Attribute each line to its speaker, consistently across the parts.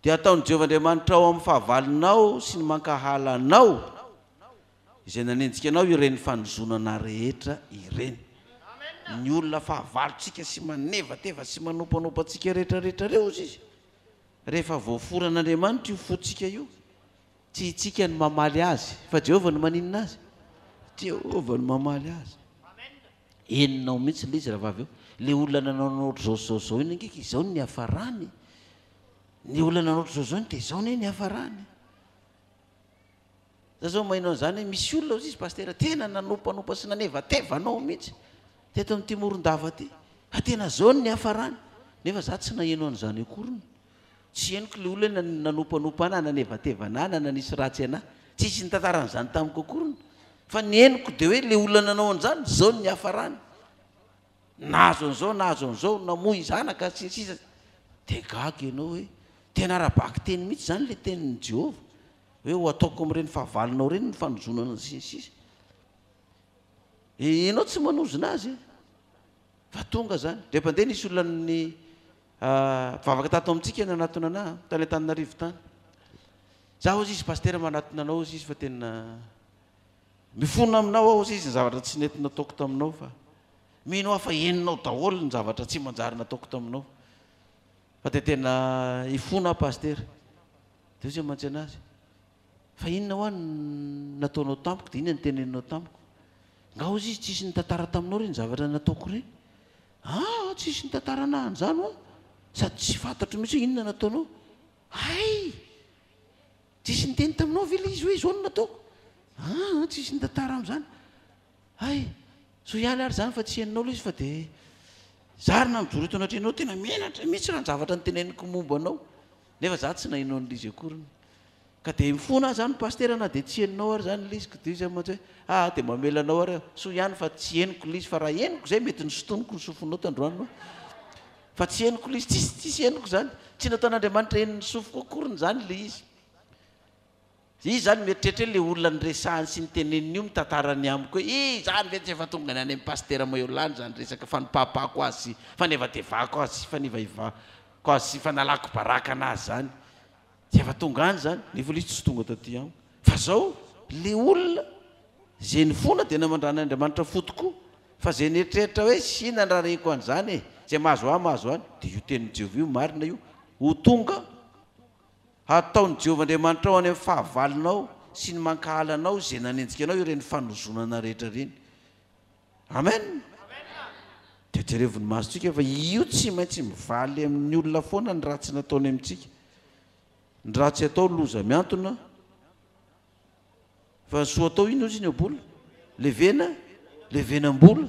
Speaker 1: Dia hataon'i Jehovah Andriamanitrao amin'ny fahavalonao sy ny mankahala anao, izay nanenjika anao ireny fanozonana rehetra ireny. Ny olona fahavalontsika sy manevateva sy manompanopa antsika rehetrarehetra ireo, hozy izy, rehefa voaforan'Andriamanitra io fontsika io, tsy itsika no mamaly azy, fa Jehovah no maninona azy? Jehovah no mamaly azy. Henonao mihitsy ilay izy rahavavy eo. Ilay olona nanao anao ohatr'izao sy izao sy izao iny ange ka izao ny niafarany e. Ny olona nanao ohatr'izao izao iny ka izao anie ny niafarany. Za zao maheno an'izany hoe misy olona hozy izy pasitera tena nanompanompa sy nanevateva anao mihitsy teto amin'ity Morondava ity ka tena izao ny niafarany nefa za tsy naheno an'izany akoriny. Tsy henoko le olona hoe nanompanompa anah, nanevatevana ahy na nanisy ratsy anah. Tsisy nitantara an'izany tamiko akoriny. Fa ny henoko dia hoe le olona nanao an'izany zao no niafarany. Nahazo an'izao, nahazo an'izao, namoy zanaka sy ny sisa. Dia gaga ianao hoe tena ara-bakiteny mihitsy izany ilay tenin'i Jehovah hoe ho ataoko amin'ireny fahavalonao ireny ny fanozonana sy ny sisa. Ianao tsy manozona azy e. Fa tonga zany. Rehefa ndeha nisy olona ny mpivavaka tato amintsika nanatona anah tany Antananarivo tany. Za ozy izy pasitera manatona anao ozy izy fa tena mifona aminao aho ozy izy ny zavatra tsy nety nataoko taminao fa mino aho fa henonao daholo ny zavatra tsy manjary nataoko taminao. Fa dia tena hifona aho pasitera. Dia ozy amantsy anazy. Fa inona hoa no nataonao tamiko dia inona no teneninao tamiko? Nga hozy izy tsisy nitantara taminao re ny zavatra nataoko re? Aa tsisy nitantara anah an'izany hoa, sady tsy fantatro mihitsy hoe inona nataonao. Hay! Tsisy niteny taminao ve ilay izy hoe izao no nataoko? Aa tsisy nitantara amin'izany. Hay! Soa ihany ary izany fa tsy henonao ilay izy fa dia zarina mijoro eto anatrehanao, tena menatra mihitsy raha ny zavatra noteneniko momba anao. Nefa za tsy naheno an'i Lizy akoriny. Ka dia mifona aho zany Pasitera na dia tsy henonao ary zany Lizy ko Dizy aho hoe aa dia mamela anao ary aho. Soa ihany fa tsy henoko Lizy fa raha henoko izay mety nosintoniko ny sofinao tandroany hoe fa tsy henoko Lizy. Tsisy tsisy henoko zany. Tsy nataon'Andriamanitra henon'ny sofiko akoriny zany Lizy. Izy izany mieritreritra hoe ilay olona niresahany sy niteneniny io mitantara ny amiko hoe ee izany ve tsy efa tongany any amin'ny pasitera Moheolan izany resaka fanopahapahako azy sy fanevadevako azy sy fanivaivako azy sy fanalako baraka an'azy izany tsy efa tonga any izany nefa ilay izy tsy tonga taty amiko fa izao ilay olona izay nifona dia namandran'Andriamanitra fo tokoa fa izay nieritreritra hoe sy nandrareko an'izany e izay mahazo ahy mahazo any dia io tenin'i Jehovah io marina io ho tonga Hataon'i Jehovah Andriamanitrao any amin'ny fahavalonao sy ny mankahala anao izay nanenjika anao ireny fanozonana rehetra ireny. Amen! Dia jerevo ny masontsika fa io tsy maintsy mivaly amin'ny olona foana ny ratsy nataony amintsika. Ny ratsy atao loza mihantona. Fa soa atao ino ozy ny ao bola? Levena, levenam-bola.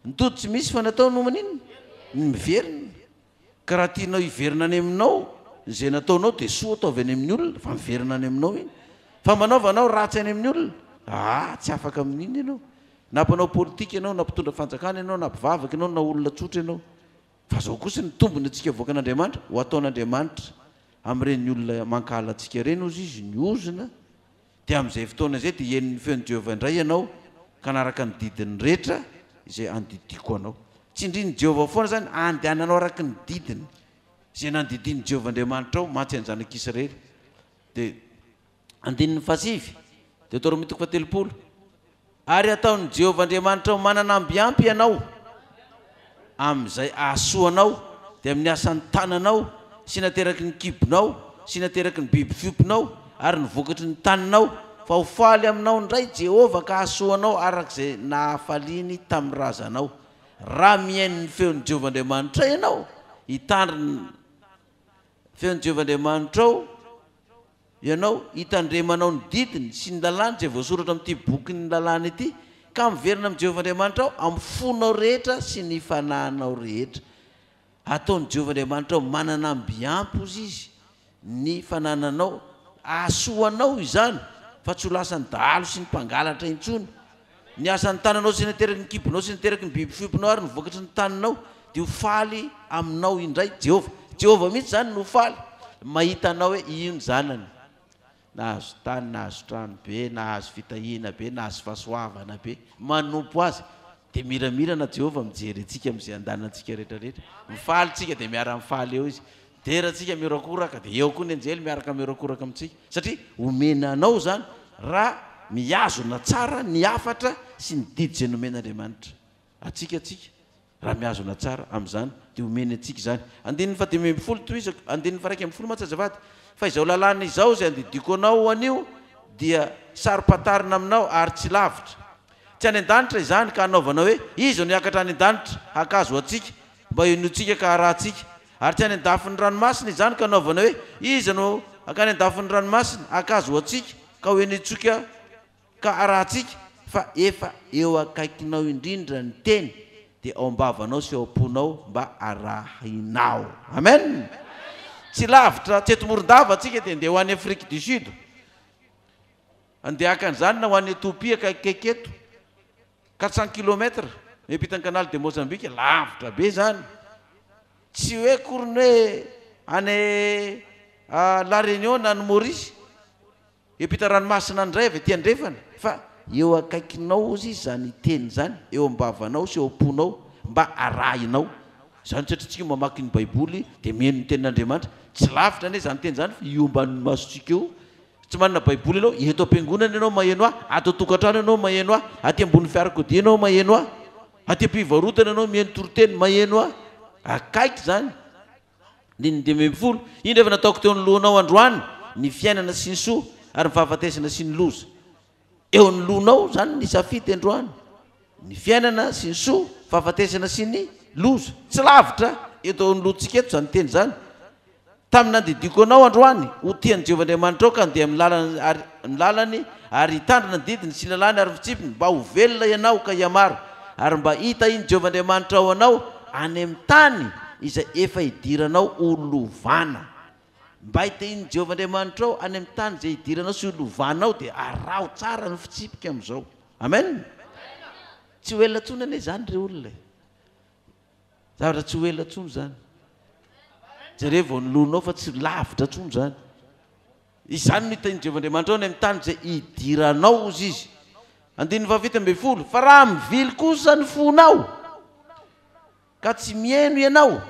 Speaker 1: Ny tody tsy misy fa ny atao no maninona? Ny miverina. Ka raha tianao hiverina any aminao izay nataonao dia soa ataovy any amin'ny olona fa miverina any aminao iny. Fa manaova anao ratsy any amin'ny olona? Aa, tsy afaka amin'iny ianao. Na mpanao politika ianao, na mpitondra fanjakana ianao, na mpivavaka ianao, na olona tsotra ianao. Fa izao kosa ny tombony antsika avoaka an'Andriamanitra, ho ataon'Andriamanitra amin'ireny olona mankahala antsika ireny hozy Izy ny ozona, dia amin'izay fotoana izay dia hihaino ny feon'i Jehovah indray ianao, ka hanaraka ny didiny rehetra izay andidiako anao. Tsindrin'i Jehovah foana izany handehananao araka ny didiny izay nandidian'i Jehovah Andriamanitrao mantsy an'ny zanak'Israely, dia. Andininy fahasivy, Deoteronomia toko fahatelopolo, Ary hataon'i Jehovah Andriamanitrao manana ambiampy ianao, amin'izay ahasoa anao, dia amin'ny asan'ny tananao, sy nateraky ny kibonao, sy nateraky ny biby fiompinao, ary ny vokatry ny taninao, fa ho faly aminao indray Jehovah ka hahasoa anao araka izay nahafaliany tamin'ny razanao, raha mihaino ny feon'i Jehovah Andriamanitrao ianao, hitandrina ny feon'i Jehovah Andriamanitrao, Ianao hitandremanao ny didiny sy ny lalàny izay voasoratra amin'ity bokin'ny lalàna ity, ka miverina amin'i Jehovah Andriamanitrao amin'ny fonao rehetra sy ny fanahinao rehetra. Hataon'i Jehovah Andriamanitrao manana ambiampy, hozy izy, ny fanananao. Hahasoa anao izany, fa tsy ho lasan'ny dahalo sy ny mpangalatra intsony Ny asan'ny tananao sy ny ateraky ny kibonao sy ny ateraky ny biby fiompinao ary ny vokatry ny taninao, dia ho faly aminao indray Jehovah. Jehovah mihitsy izany no ho faly mahita anao hoe io ny zanany nahazo tany, nahazo trano be, nahazo fitahiana be, nahazo fahasoavana be, manompo azy. Dia miramirana Jehovah mijery antsika amin'izay andanantsika rehetrarehetra. Mifaly isika dia miara-mifaly eo izy. Dera antsika mihorakoraka dia eo koa ny anjely miaraka mihorakoraka amintsika satria omeny anao izany raha mihazona tsara ny hafatra sy ny didy izay nomen'Andriamanitra antsika antsika raha mihazona tsara amin'izany dia omeny antsika izany. Andininy fahadimy ambin'ny folo, tohizako andininy faharaika ambin'ny folo mantsy azafady, fa izao lalàna izao izay andidiako anao ho anio dia saro-pantarina aminao ary tsy lavitra. Tsy any an-danitra izany ka hanaovana hoe iza no hiakatra any an-danitra haka azy ho antsika Mba henointsika ka harahantsika. Ary tsy any an-dafin'ny ranomasina izany ka hanaovana hoe, Iza no hankany an-dafin'ny ranomasina haka-azy ho antsika ka hohenointsika ka harahantsika? Fa efa eo akaikinao indrindra ny Teny, dia ao am-bavanao sy ao am-ponao mba arahinao. Amen! Tsy lavitra, tsy eto Morondava antsika dia handeha ho any Afrique du Sud, handeha haka an'izany na ho any Ethiopie akaikikaiky eto. Quatre cent kilomètres miampita ny canal de Mozambique lavitra be zany tsy hoe akory ny hoe any la Réunion na any Maurice hiampita ranomasina any ndray avy aty andrefana fa eo akaikinao ozy izy zany hiteny zany eo ambavanao sy eo amponao mba arahinao zany satria tsika mamaky ny baiboly de miheno ny tenin'Andriamanitra tsy lavitra anie zany teny zany fa io ambany masontsika eo Tsy manana baiboly ianao, eto am-piangonana ianao maheno ahy, ato an-tokantrano ianao maheno ahy, aty ambony fiarakodia ianao maheno ahy, aty am-pivarotana ianao mihaino toriteny maheno ahy. Akaiky izany. Andininy dimy ambin'ny folo, Indro efa nataoko teo anoloanao androany ny fiainana sy ny soa ary ny fahafatesana sy ny loza. Eo anoloanao izany ny safidy androany, ny fiainana sy ny soa, fahafatesana sy ny loza. Tsy lavitra eto anoloantsika eto izany teny izany. Tamin'ny nandidiako anao androany, ho tia an'i Jehovah Andriamanitra aoka, handeha amin'ny lalany, ary hitandrina ny didiny sy ny lalàny ary ny fitsipiny, mba ho velona ianao ka hihamaro, ary mba hita iny Jehovah Andriamanitra ao anao any amin'ny tany izay efa hidiranao ho lovana. Mba hitahian'i Jehovah Andriamanitrao any amin'ny tany izay hidiranao sy holovanao, dia araho tsara ny fitsipika amin'izao. Amen. Tsy ho ela intsony anie izany ry olona e. Zavatra tsy ho ela intsony izany. Jereo vao ny lohanao fa tsy lavitra intsony izany. Izany no hitahian'i Jehovah Andriamanitrao any amin'ny tany izay hidiranao, hozy izy. Andininy fahafito ambin'ny folo, Fa raha mivily kosa ny fonao, Ka tsy miheno ianao,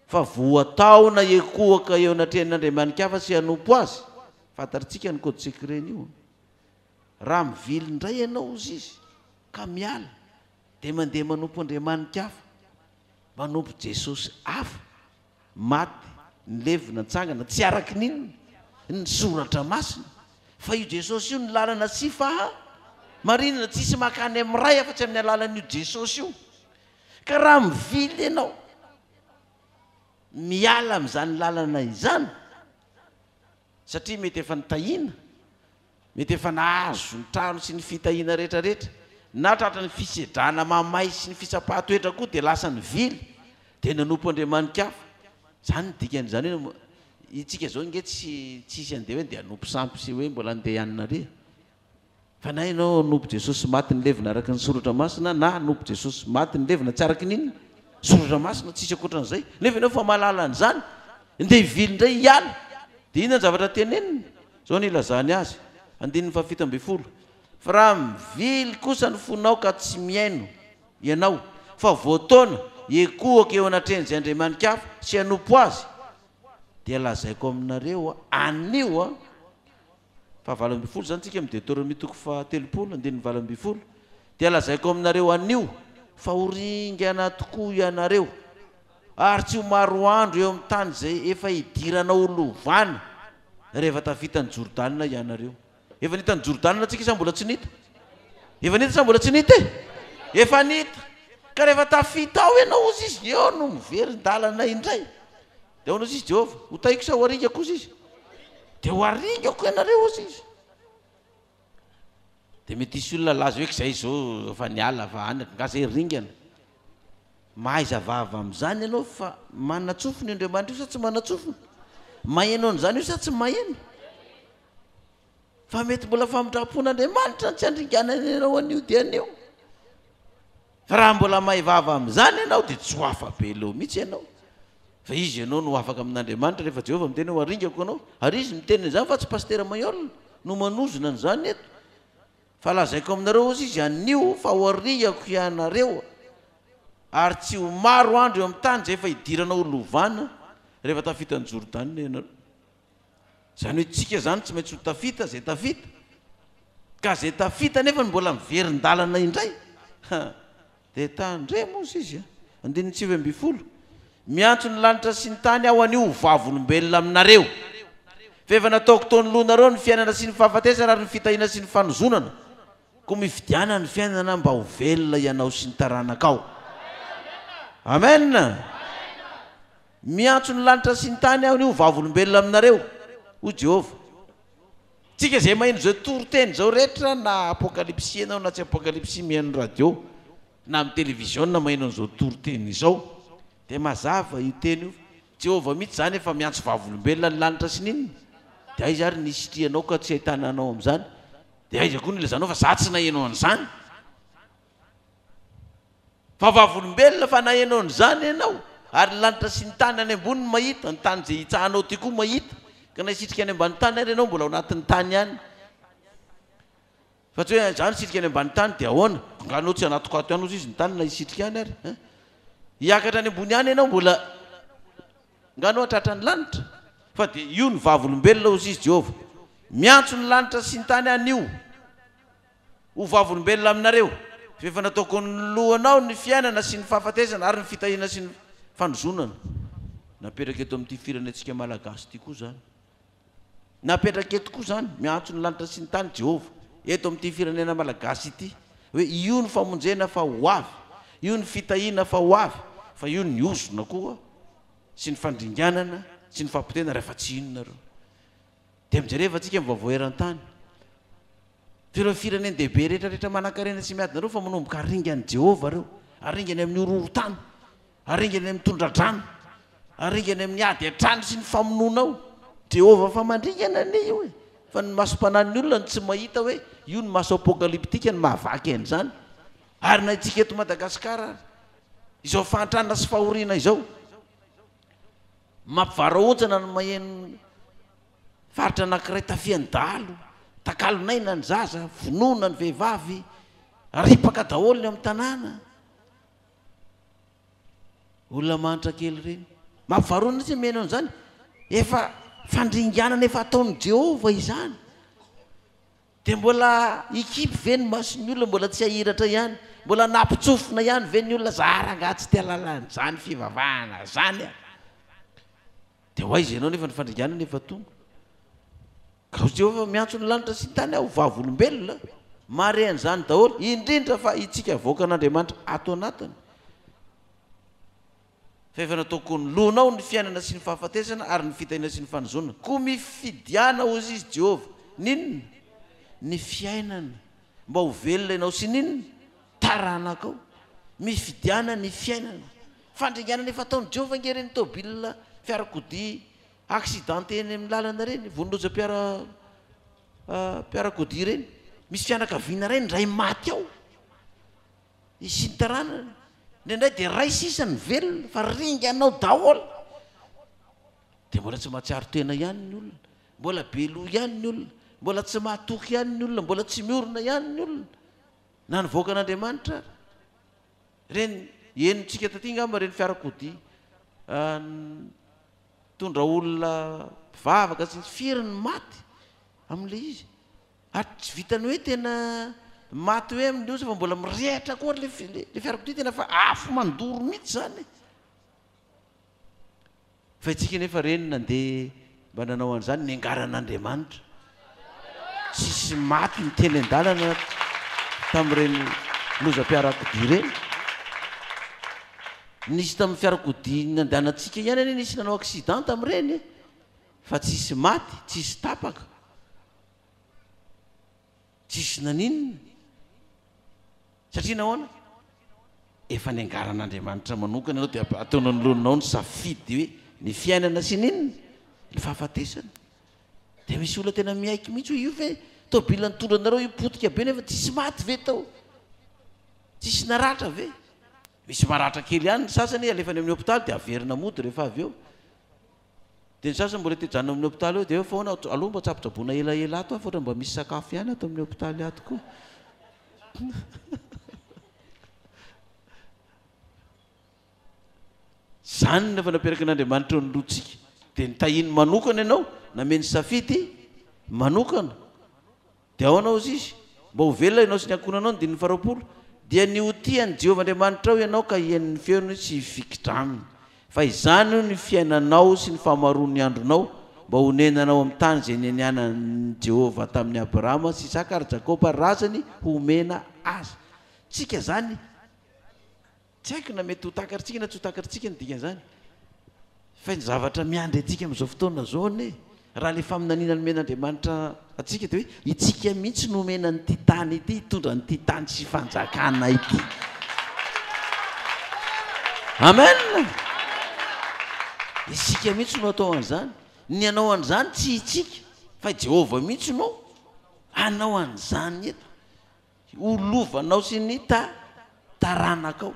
Speaker 1: fa voataona ekohoka eo anatrehan' andriamani-kafa sy hanompo azy, fantatritsika ny code secret nio an! Raha mivily indray ianao, hozy izy, ka miala, dia mandeha manompo andriamani-kafa, manompo jesosy hafa, Maty, nilevina, nitsangana, tsy araky ny inona? Ny soratra masina. Fa io Jesosy io no lalana sy faha marinana, tsisy makany amin'ny Ray afa tsy amin'ny alalan'io Jesosy io. Ka raha mivily ianao miala amin'izany lalana izany satria mety efa nitahiana Mety efa nahazo ny trano sy ny fitahiana rehetra rehetra na tratra ny fisedrana mamay sy ny fitsapahatoetra koa dia lasa nivily dia nanompo andriamanikafa zany ny dikany zany hoe itsika zao nge tsy tsisy andeha hoe ndeha hanompo sampy sy hoe mbola ndeha hianina ary fa na ianao hanompo jesosy maty nilevina araka ny soratra masina na hanompo jesosy maty nilevina tsy araka ny soratra masina tsisy ankoatran'izay nefa ianao fa mahalala an'izany ndeha hivily indray hiala dia inona ny zavatra tenenina Izao no ilazany azy, andininy fahafito ambin'ny folo, Fa raha mivily kosa ny fonao ka tsy mihaino ianao, fa voataona hiekohoka eo anatrehan'izay andriamani-kafa sy hanompo azy, dia lazaiko aminareo, anio, fahavalo ambin'ny folo izany tsika amin'ny Deoteronomia toko fahatelopolo, andininy valo ambin'ny folo, Dia lazaiko aminareo anio, fa ho ringana tokoa ianareo, ary tsy ho maro andro eo amin'ny tany izay efa hidiranao ho lovana, rehefa tafita ny Jordana hianareo. Efa nita ny Jordana antsika sa mbola tsy nita? Efa nita sa mbola tsy nita e? Efa nita! Ka rehefa tafita ao ianao, hozy Izy, eo no miverin-dalana indray. Dia ahoana, hozy Izy, Jehovah? Ho tahiko sa ho aringako, hozy Izy? Dia ho aringako ianareo, hozy Izy. Dia mety hisy olona hilaza hoe k'izay izao efa niala fa any nga zay ringana. Mahaiza vava amin'izany ianao fa manan-tsofina io Andriamanitra io sa tsy manan-tsofina? Maheno an'izany io sa tsy maheno? Fa mety mbola famindram-pon'Andriamanitra ny tsy handringanany anao anio dia anio. Fa raha mbola may vava amin'izany ianao dia tsy ho afa-be leo mihitsy ianao. Fa iza ianao no afaka amin'Andriamanitra rehefa Jehovah miteny hoe aringako anao? Ary Izy miteny an'izany fa tsy Pasitera Mayol no manozona an'izany eto. Fa lazaiko aminareo hozy Izy anio fa ho aringako ianareo ary tsy ho maro andro eo amin'ny tany izay efa hidirana ho lovana rehefa tafita an'i Jordana ianareo. Izany hoe tsika izany tsy maintsy ho tafita izay tafita. Ka izay tafita nefa no mbola miverin-dalana indray. Ha! Dia tandremo hozy izy a! Andininy sivy ambin'ny folo, Miantso ny lanitra sy ny tany aho anio ho vavolombelona aminareo. Fa efa nataoko tao anoloanareo ny fiainana sy ny fahafatesana ary ny fitahiana sy ny fanozonana. Koa mifidiana ny fiainana mba ho velona ianao sy ny taranakao. Amena! Miantso ny lanitra sy ny tany aho ny ho vavolombelona aminareo, hoy Jehovah. Tsika izay maheno izao toriteny izao rehetra, na Apokalypsy ianao na tsy Apokalypsy, mihaino radio na amin'ny televiziona maheno an'izao toriteny izao, dia mazava io teny io. Jehovah mihitsy izany efa miantso vavolombelona ny lanitra sy ny inona. Dia aiza ary ny hisitrihanao ka tsy ahitana anao amin'izany? Dia aiza koa ny hilazanao fa izaho tsy naheno an'izany? Fa vavolombelona fa na ianao na zany ianao ary ny lanitra sy ny tany any ambony no mahita, ny tany izay hitsahanao ity koa mahita, ka na hisitrika any ambany tany ary ianao mbola ao anatin'ny tany ihany. Fa tsy hoe zany hisitrika any ambany tany dia ahoana? Nga anao tsy anaty koato ihany osa izy ny tany na hisitrika any ary eh? Hiakatra any ambony ihany ianao mbola nga anao hatratra ny lanitra? Fa dia io ny vavolombelona hoy sizy Jehovah. Miantso ny lanitra sy ny tany any io. Ho vavolombelona aminareo, fa efa nataoko lohanao ny fiainana sy ny fahafatesana ary ny fitahiana sy ny fanozonana. Napetraka eto amin'ity firenentsika Malagasy ity koa izany. Napetraka eto koa izany, miantso ny lanitra sy ny tany Jehovah, eto amin'ity firenena Malagasy ity, hoe io ny famonjena fa ho avy, io ny fitahiana fa ho avy, fa io ny ozona koa sy ny fandringanana sy ny fahapotehana raha efa tsy inona ireo. Dia mijereva antsika ny vaovao eran-tany. Fa ireo firenen-dehibe rehetrarehetra manankarena sy miadana ireo fa manomboka haringan'i Jehovah ireo, haringany amin'ny horohorontany, haringany amin'ny tondra-drano, haringany amin'ny ady an-trano sy ny famonoana ao. Jehovah fa mandringana anie io e! Fa ny masom-panan'ny olona no tsy mahita hoe io ny maso apokalyptika no mahavaky an'izany. Ary na itsika eto Madagasikara ary, izao fahantrana sy fahoriana izao, Mampivarahontsana ny maheno ny faritra anankiray tafihan'ny dahalo, takalon'aina ny zaza, vonoina ny vehivavy, ripaka daholo ny ao amin'ny tanàna. Olona mahantra kely ireny. Mampivarahonana tsisy ny mihaino an'izany. Efa fandringanana efa ataon'i Jehovah izany. Dia mbola hikipy ve ny mason'ny olona, mbola tsy hahiratra ihany? Mbola hanampitsofina ihany ve ny olona? Zara angaha tsy te hahalala an'izany fivavahana izany a! Dia ho aiza ianao nefa ny fandringanana efa tonga? Ka hoy Jehovah, Miantso ny lanitra sy ny tany aho, vavolombelona marean'izany daholo, indrindra fa itsika vahoakan'Andriamanitra ato anatiny. Fa efa nataoko ho ny lohanao ny fiainana sy ny fahafatesana ary ny fitahiana sy ny fanozonana. Koa mifidiana, hozy izy, Jehovah, n'inona? ny fiainana, mba ho velona ianao sy ny inona? taranakao. Mifidiana ny fiainana. Fandringanana efa ataon'i Jehovah ange ireny tôbila, fiarakodia accidenté eny amin'ny lalana ireny, voan'ny lojam-piara piarakodia ireny. Misy fianakaviana iray indray maty ao. Hisian'ny taranany. Ny anay dia iray sisa ny velona fa ringanao daholo. Dia mbola tsy mahatsiaro tena ihany ny olona. Mbola be loha ihany ny olona. Mbola tsy mahatoky ihany ny olona. Mbola tsy miorina ihany ny olona. Na nivoaka an'Andriamanitra ary. Ireny henontsika taty angamba ireny fiarakodia nitondra olona mpivavaka sy ny firy ny maty amin'ilay izy. Ary tsy vitan'ny hoe tena maty hoe amin'ny loza fa mbola mirehitra koa ary le le fiarakodia tena fa afo mandoro mihitsy zany e. Fa itsika nefa reny nandeha mba nanao an'izany niangaran'Andriamanitra. Tsisy maty niteny an-dalana tamin'ireny lozam-piarakodia ireny. Nisy tamin'ny fiarakodia nandehanantsika ihany anie nisy nanao accident tamin'ireny e. Fa tsisy maty, tsisy tapaka. Tsisy naninona. Satria nahoana? Efa niangaran'Andriamanitra manokana ianao dia ataony anoloana ao ny safidy hoe ny fiainana sy ny inona? Ny fahafatesana. Dia misy olona tena miaiky mihitsy hoe io ve tôbila nitondranareo io potika be nefa tsisy maty ve tao? Tsisy naratra ve? Misy maratra kely ihany ny sasany alefany amin'ny hôpitaly dia averina mody rehefa avy eo. Dia ny sasany mbola ety hijanona amin'ny hopitaly eo, dia hoe foana aho, aleo mba tsabotsabona elaela ato aho fa ohatra mba misy sakafo ihany ato amin'ny hopitaly ato koa. Izany ny nafanam-perak' Andriamanitra eo ny lohantsika. Dia ny tahiny manokana ianao, nameny safidy manokana. Dia ahoana hozy izy? Mba ho velona ianao sy ny ankohonanao, ny diny faharoapolo, Dia ny ho tia an'i Jehovah Andriamanitrao ianao ka hihaino ny feony sy hifikitra aminy, fa izany no ny fiainanao sy ny fahamaroan'ny andronao, mba honenanao amin'ny tany izay nianianan'i Jehovah tamin'i Abrahama sy Isaka ary Jakoba razany homena azy. Tsika izany. Tsy haiko na mety ho takaritsika na tsy ho takaritsika ny dikan'izany fa ny zavatra miandry antsika amin'izao fotoana izao anie raha ilay faminaniana nomen'Andriamanitra antsika dia hoe itsika mihitsy no omena an'ity tany ity hitondra an'ity tany sy fanjakana ity. Amen! Isika mihitsy no atao an'izany. Ny hanao an'izany tsy itsika fa i Jehovah mihitsy no hanao an'izany eto. Ho lovanao sy ny ta taranakao.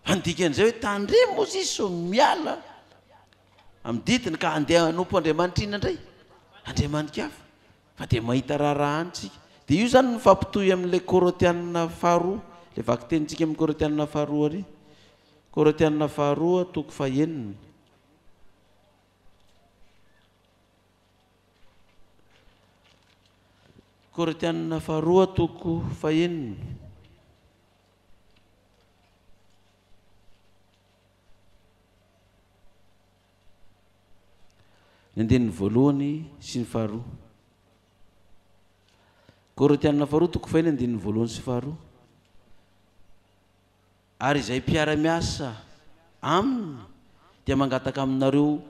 Speaker 1: Fa ny dikan'izay hoe tandremo hozy izy sao miala amin'ny didiny ka handeha hanompo andriamanitra inona indray? Andriamanin-kafa. Fa dia mahita raharaha any isika. Dia io izany mifampitohy amin'ilay Korintiana faharoa, ilay vakitenintsika amin'ny Korintiana faharoa ary. Korintiana faharoa, toko fahenina. Korintiana faharoa toko fahenina. Ny andininy voalohany sy ny faharoa. Korintiana faharoa toko fahenina andininy voalohany sy faharoa. Ary izay mpiara-miasa aminy dia mangataka aminareo,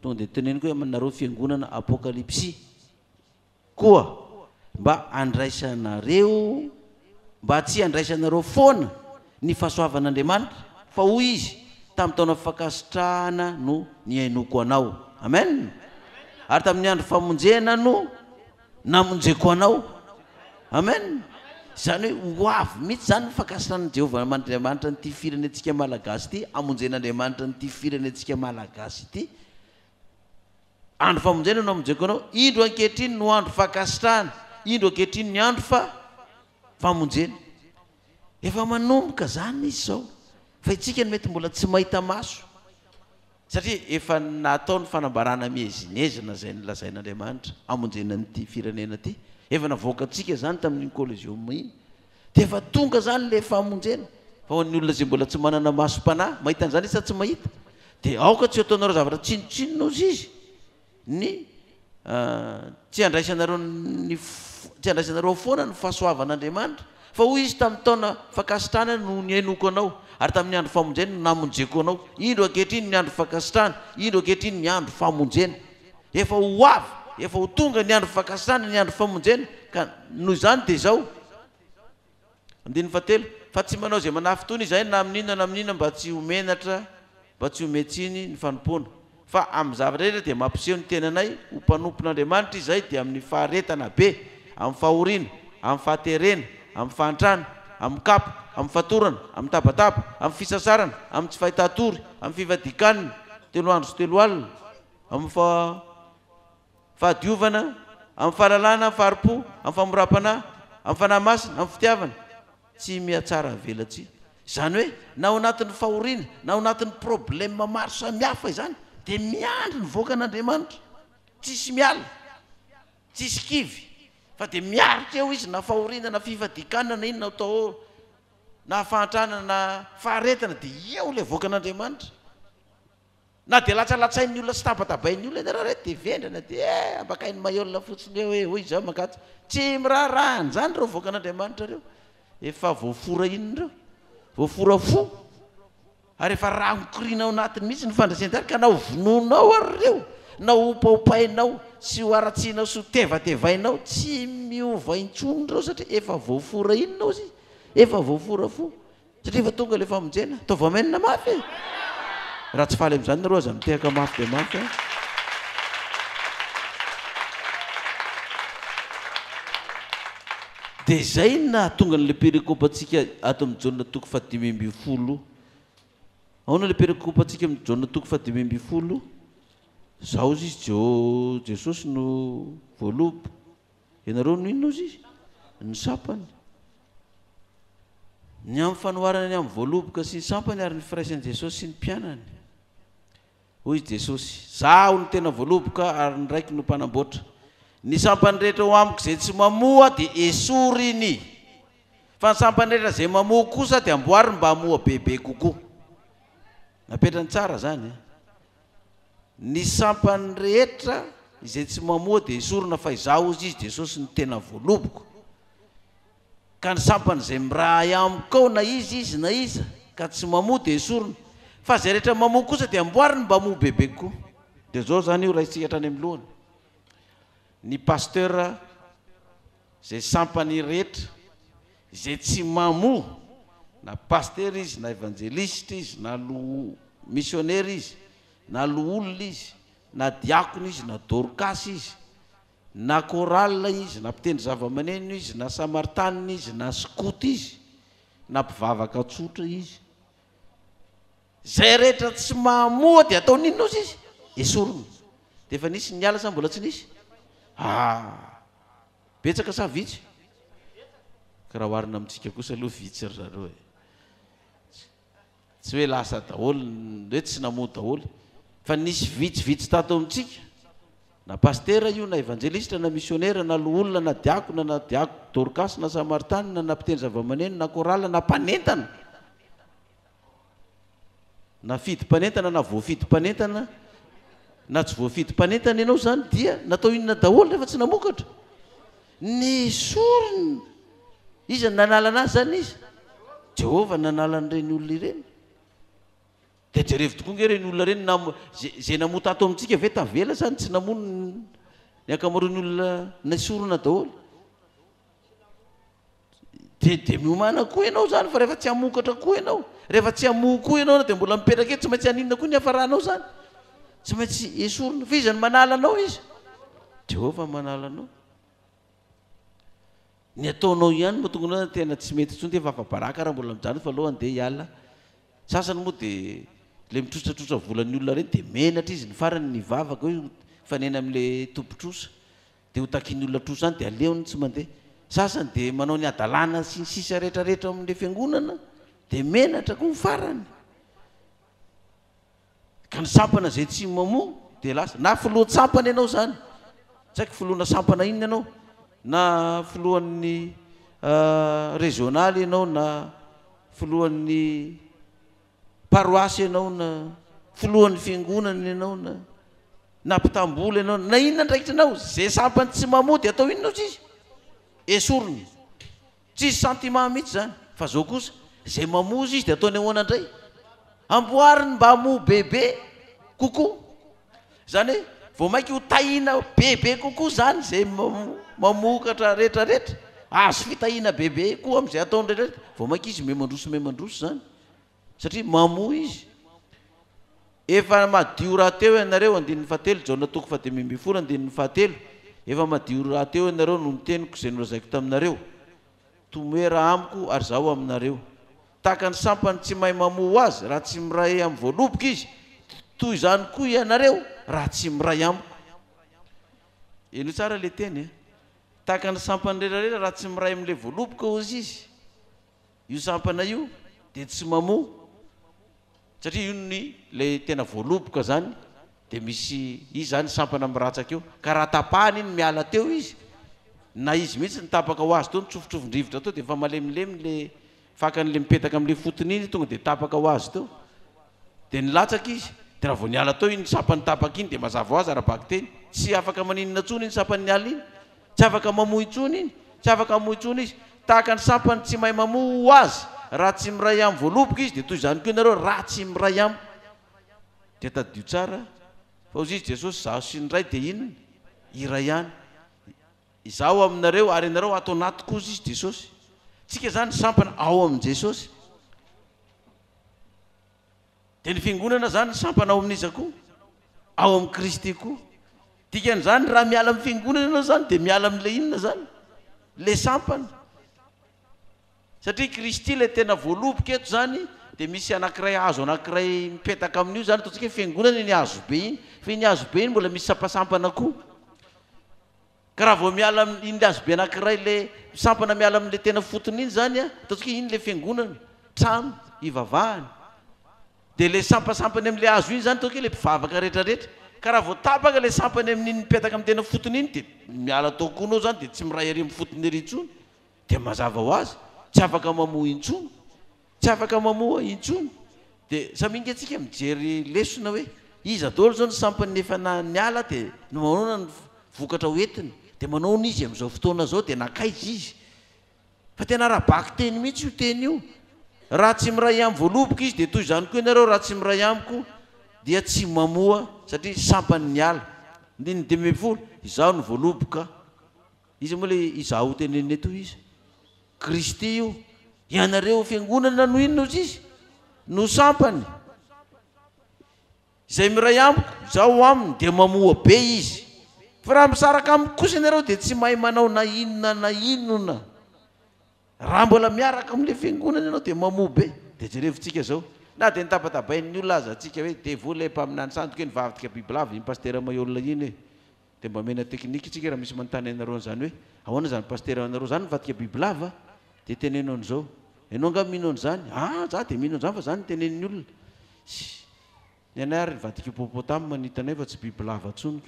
Speaker 1: tonga dia teneniko hoe aminareo fiangonana Apokalypsy koa, mba handraisanareo, mba tsy handraisanareo foana ny fahasoavan'Andriamanitra, fa hoy izy, tamin'ny taona fankasitrahana no nihainoako anao. Amen. Ary tamin'ny andro famonjena no. namonjeko anao. Amen! Izany hoe ho avy mihitsy izany ny fankasitrahan'i Jehovah Andriamanitra an'ity firenentsika Malagasy ity, hamonjen'Andriamanitra an'ity firenentsika Malagasy ity. Andro famonjena no namonjeko anao. Indro ankehitriny no andro fankasitrahana. Indro ankehitriny ny andro fa famonjena. Efa manomboka izany izy izao. Fa itsika no mety mbola tsy mahita maso. Satria efa natao ny fanambarana miezinezina izay nolazain'Andriamanitra hamonjena an'ity firenena ity. Efa navoakantsika izany tamin'iny Collegium iny. Dia efa tonga izany ilay famonjena. Fa ho an'ny olona izay mbola tsy manana masom-panahy, mahita an'izany izy sa tsy mahita? Dia aoka tsy hataonareo zavatra tsinontsinona, hozy izy. ny tsy handraisanareo ny tsy handraisanareo foana ny fahasoavan'Andriamanitra, fa hoy izy, tamin'ny taona fankasitrahana no nihainoako anao, ary tamin'ny andro famonjena no namonjeko anao, indro ankehitriny ny andro fankasitrahana, indro ankehitriny ny andro famonjena efa ho avy, efa ho tonga ny andro fankasitrahana, ny andro famonjena, ka noho izany dia izao. Andininy fahatelo, Fa tsy manao izay manafitoana izahay na amin' inona na amin' inona mba tsy ho menatra, mba tsy ho mihetsiny ny fanompoana. Fa amin' ny zavatra rehetra dia mampiseho ny tenanay ho mpanompon' Andriamanitra izahay, dia amin' ny faharetana be, amin' ny fahoriana, amin' ny fahaterena, amin' ny fahantrana, amin' ny kapa, amin' ny fatorana, amin' ny tabataba, amin' ny fisasarana, amin' ny tsy fahitatory, amin' ny fivadikan-telo andro sy telo alina, amin' ny. fahadiovana, amin'ny fahalalana, amin'ny fahari-po, amin'ny famoram-panahy, amin'ny Fanahy Masina, amin'ny fitiavana, tsy mihatsara avelatsihy. Izany hoe na ao anatin'ny fahoriana, na ao anatin'ny problème maro samihafa izany dia miandry ny vahoakan' Andriamanitra, tsisy miala, tsisy kivy, fa dia miaritra eo izy na fahoriana, na fifadian-kanina, na inona atao ao, na fahantrana, na faharetana dia eo ilay vahoakan' Andriamanitra. Na dia latsalatsain'ny olona sy tabatabain'ny olona aza ry dia vendrana dia eh! ambakain'i Maiola fotsiny eo eh! hoy izaho mankato. Tsy miraharaha an'izany ireo vahoakan'Andriamanitra ireo. Efa voafora inona ireo? Voafora fo! Ary efa rangokiriana ao anatiny mihitsy ny fandresen-tany ka na ho vonoinao ary ireo, na hopaopainao sy hoharatsianao sy hotevatevainao, tsy miova intsony ireo satria efa voafora inona hozy? Efa voafora fo! Satria efa tonga ilay famonjena. Ataovy amen mafy e! Raha tsy faly amin'izany nareo aza mitehaka mafy dia mafy an! Dia izay no nahatonga an'ilay perekopantsika ato amin'ny Jaona toko fahadimy ambin'ny folo. Ahoana ilay perekopantsika amin'ny Jaona toko fahadimy ambin'ny folo? Zaho izy Jesosy no voalobo. Ianareo no inona ozy? Ny sampany. Ny amin'ny fanoharana ny amin'ny voaloboka sy ny sampany ary ny firaisan'i Jesosy sy ny mpianany. Hoy i Jesosy, Zaho no tena voaloboka ary ny Raiko no mpanamboatra. Ny sampany rehetra ao amiko izay tsy mamoa dia esoriny, fa ny sampany rehetra izay mamoa kosa dia amboariny mba hamoa bebe kokoa. Napetrany tsara izany. Ny sampan'ny rehetra izay tsy mamoa dia esorina fa Izaho, hozy izy, Jesosy no tena voaloboko. Ka ny sampany izay mirahay amiko ao na iza izy na iza ka tsy mamoa dia esorina, fa izay rehetra mamoa kosa dia amboariny mba hamoa bebe kokoa. Dia izao izany io raisitsika hatrany amin'ny lohany, ny Pasteur. Izay sampany rehetra izay tsy mamo, na pasitera izy, na evanjelisitra izy, na misionera izy, na loholona izy, na diakona izy, na dorcas izy, na chorale izy, na mpitendry zavamaneno izy, na samaritanina izy, na scout izy, na mpivavaka tsotra izy, Zay rehetra tsy mahamoa dia ataony inona ozy izy? Esorina. Dia efa nisy ny niala sa mbola tsy nisy? Haa! Betsaka sa vitsy? Ka raha oharina amintsika kosa aloha vitsy ry zareo e! Tsy hoe lasa daholo, hoe tsy namoa daholo, fa nisy vitsivitsy tato amintsika. Na pasitera io, na evanjelistra, na misionera, na loholona, na diakona, na diak, dorcas, na samaritanina, na mpiteny zavamaneno, na chorale, na mpanentana, na fidy mpanentana, na voafidy mpanentana, na tsy voafidy mpanentana ianao izany dia natao inona daholo rehefa tsy namokatra? Nesorina! Iza no nanala anazy izany izy? Jehovah no nanala an'ireny olona ireny. Dia jerevo tokoa nge ireny olona ireny, nam, ze, ze namoa tato amintsika ve tavela sa ny tsy namoa ny, ny ankamaroan'ny olona nesorina daholo? Dia, dia miomana koa ianao izany fa rehefa tsy hamokatra koa ianao, rehefa tsy hamoa koa ianao na dia mbola mipetraka eto tsy maintsy haninona koa ny hiafaranao izany? Tsy maintsy esorina. Fa iza no manala anao? Iza? Jehovah manala anao. Ny ataonao ihany no tonga na tena tsy mety intsony dia efa afa-baraka raha mbola mijanona fa aleo andeha hiala. Sasany moa dia ilay mitrosatrosa vola ny olona ireny dia menatra izy, ny farany nivavaka hoe hifanena amin'ilay tompon-trosa dia ho takian'ny olona trosa any dia aleony tsy mandeha. Sasany dia manao ny hadalana sy ny sisa rehetra rehetra ao amin'ilay fiangonana dia menatra koa ny farany. Ka ny sampana izay tsy mamoa dia lasa. Na filoha tsampana ianao izany, tsy haiko filohana sampana inona ianao, na filohan'ny régional ianao, na filohan'ny paroasy ianao, na filohan'ny fiangonana ianao, na na mpitam-bola ianao, na inona andraikitrinao, izay sampany tsy mamoa dia atao inona ozy izy? Esorina. Tsisy sentiment mihitsy zany, fa zao kosa zay mamoza izy de ataony ahoana ndray? Amboariny mba hamoa bebe kokoa, zany hoe vao mainka ho tahina bebe kokoa zany zay mamokatra rehetra rehetra, azo fitahina bebe koa amzay ataony rehetra rehetra, vao mainka izy mey mandroso mey mandroso zany, Satria mamoa izy. Efa madio rahateo ianareo, andininy fahatelo, Jaona toko fahadimy ambin'ny folo andininy fahatelo, Efa madio rahateo ianareo noho ny teniko izay nolazaiko taminareo. Tomoera amiko ary zaho aminareo. Tahaka ny sampany tsy mahay mamoa ho azy raha tsy miray amin'ny voaloboka izy, dia toy izany koa ianareo raha tsy miray amiko. Henoy tsara ilay teny an. Tahaka ny sampany relarela raha tsy miray amin'ilay voaloboka hozy izy, Io sampana io dia tsy mamoa satria io ny ilay tena voaloboka izany dia misy izy izany sampana miratsaka io ka raha tapahana iny miala teo izy na izy mihitsy ny tapaka ho azy teo mitsofotrovon-drivotra teo dia efa malemilemy ilay fakany ilay mipetaka amin'ilay fotony iny tonga dia tapaka ho azy teo dia nilatsaka izy dia raha vao niala teo iny sampany tapaka iny dia mazava ho azy ara-bakiteny tsy afaka maninona intsony iny sampany niala iny Tsy afaka mamoa intsony iny, tsy afaka hamoa intsony izy. Tahaka ny sampany tsy mahay mamoa ho'a azy, raha tsy miray aminy voaloboka izy, dia toy izany koa ianareo raha tsy miray amiko. Dia tadidio tsara fa hoy izy Jesosy, Izaho sy ny Ray dia inona? Iray ihany. Izaho aminareo ary ianareo ato anatiko, hoy izy Jesosy. Tsika izany sampana ao amin'i Jesosy. Dia ny fiangonana izany sampana ao amin'iza koa? Ao amin'i Kristy koa. Dikan'izany raha miala amin'ny fiangonana ianao izany dia miala amin'ilay inona izany? Ilay sampana. Satria Kristy ilay tena voaloboka eto izany dia misy anankiray hazo anankiray mipetaka amin'io izany, ataontsika hoe fiangonana iny hazobe iny, fa iny hazobe iny mbola misy sampasampana koa. Ka raha vao miala amin iny le hazobe anakiray le misampana miala amin le tena fotony iny zany an, ataontsika iny le fiangonana, trano hivavahana, de le sampasampany amin le hazo iny zany ataontsika le mpivavaka retraretra, ka raha vao tapaka le sampany amin iny mipetaka amin tena fotony iny de miala tao koa anao zany de tsy miray ery amin fotony ery intsony, de mazava ho azy tsy afaka mamoha intsony. Tsy afaka mamoha intsony de samy ingatsika mijery lesona hoe iza daholo zao ny sampany efa niala de manaona ny vokatra ho entiny de manaona izy amizao fotoana zao de nankaiza izy fa tena arabaky teny mihitsy io teny io raha tsy miray am voaloboka izy de toy zany koa nareo raha tsy miray amiko dia tsy mamoha satria sampany niala ny dimy ambin'ny folo izaho no voaloboka Iza moa ilay izaho ho tenenina eto io iza? Kristy io. Ianareo fiangonana no inona ozy izy? No sampany. Izay miray amiko, izaho ho aminy, dia mamoa be izy. Fa raha misaraka amiko kosa ianareo dia tsy mahay manao na inona na inona. Raha mbola miaraka amin'ilay fiangonana ianao dia mamoa be. Dia jerevintsika izao, na dia notabatabain'ny olona aza antsika hoe devoly e, mpaminany sandoka e, nivavdika bibilava iny Pasitera Mayolle iny e. Dia mba omena teknika isika raha misy manontany anareo an'izany hoe ahoana izany pasitera anareo izany mivadika bibilava dia teneno an'izao ianao angaha mino an'izany ah za dia mino an'izany fa zany no tenenin'ny olona sy ny anay ary nivadika hippopotame no hitanay fa tsy bibilava intsony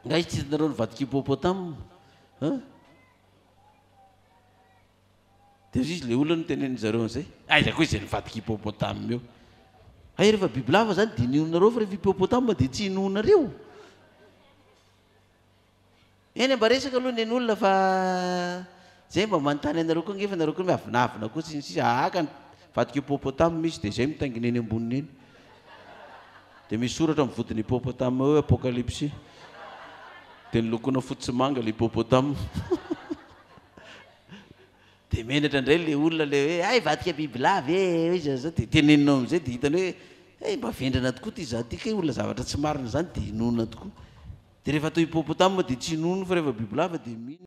Speaker 1: ko nga izy tsy hitanareo nivadika hippopotame an Dia ry izy ilay olona no tenenin-dry zareo an'izay, aiza koa izay nivadika hippopotame eo? Hay rehefa bibilava izany dinihoanareo fa rehefa hippopotame dia tsy hinoanareo? Eny mba resaka aloha nen'olona fa izay mba manontany anareo koa ange fa nareo koa miavonavona koa sy ny sisa hahaka ny vadika hippopotame misy dia izay mitaingina eny amboniny eny dia misy soratra amin'ny vodin'ny hippopotame hoe apocalypse dia nolokoina fotsy sy manga ilay hippopotame Dia menatra indray ilay olona ilay hoe hay vadika bibilava e, hoy izy amin'izay dia teneninao amin'izay dia hitany hoe hey mba vendrana tokoa ity zah ity kay olona zavatra tsy marina izany dia inoana tokoa. Dia rehefa atao hipopotam dia tsy inoany fa rehefa bibilava dia mino.